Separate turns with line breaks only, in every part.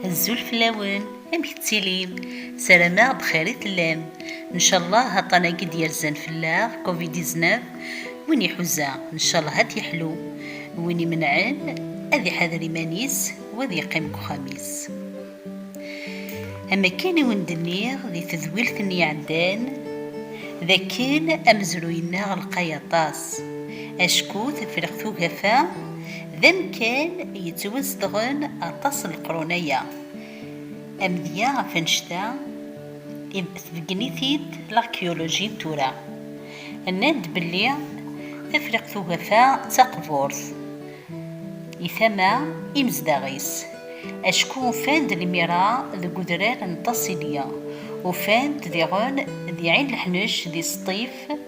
Azul fell-awen, amek tettilim? Sarameɣ bxir i tellam. Ncallah aṭan-agi d-yerzan fell-aɣ, Covid 19, win iḥuza, ncallah ad t-yeḥlu. Win imenɛen, ad iḥader iman-is u ad yeqqim deg uxxam-is. Am akken i wen-d-nniɣ di tedwilt-nni iɛeddan, d akken amezruy-nneɣ lqay aṭas, acku Tefriqt Ugafa, D amkan yettwazedɣen aṭas n leqrun-aya. Amedya ɣef annect-a tbeggen-it-id lakyuluji n tura. Nnan-d belli Tafriqt Ugafa d taqburt i tama imezdaɣ-is, acku ufan-d lemira deg udrar n Taṣilya, ufan-d diɣen di Ɛin Leḥnec, di Sṭif,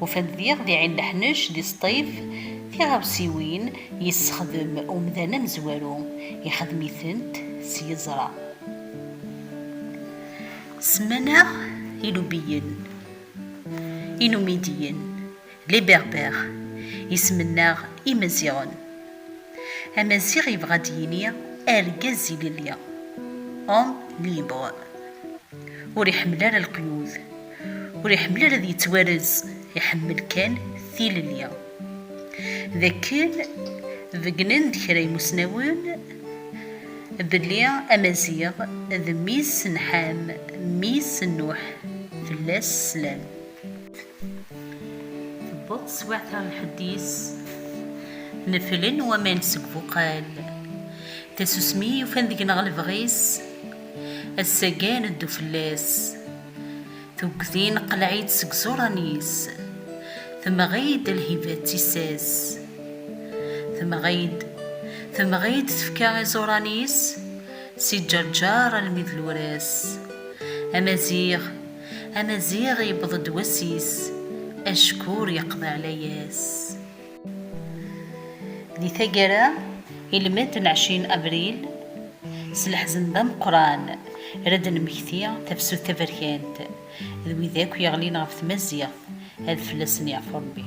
Ufan-d diɣ di Ɛin Leḥnec, di Sṭif, tiɣawsiwin yessexdem umdan amezwaru, ixdem-itent s yeẓra. Semman-aɣ Ilubiyen, Inumidiyen, les Berbères, isem-nneɣ Imaziɣen. Amaziɣ yebɣa ad yini argaz ilelli, homme libre. Ur iḥemmel ara leqyud. ur iḥemmel ara ad yettwarez iḥemmel kan tilelli d akken beggnen-d kra imusnawen belli amaziɣ d mmi-s n Ḥam mmi-s n Nuḥ fell-as slam. Tewweḍ teswiɛt ɣer lḥedd-is neflen waman seg buqal tasusmi yufan deg-neɣ lebɣi-s ass-agi ad neddu fell-as. Tuggdi neqleɛ-itt seg iẓuran-is, temɣi-d lhiba d tissas. Temɣi-d, temɣi-d tefka iẓuran-is, si ǧerǧer almi d luras. Amaziɣ, amaziɣ yewweḍ-d wass-is, acku ur yeqḍiɛ layas. Di taggara, ilmend n ɛecrin abril, s leḥzen d ameqqran ara d-nemmekti tafsut taberkant d wid akk yeɣlin ɣef tmaziɣt, ad fell-asen yeɛfu Rebbi.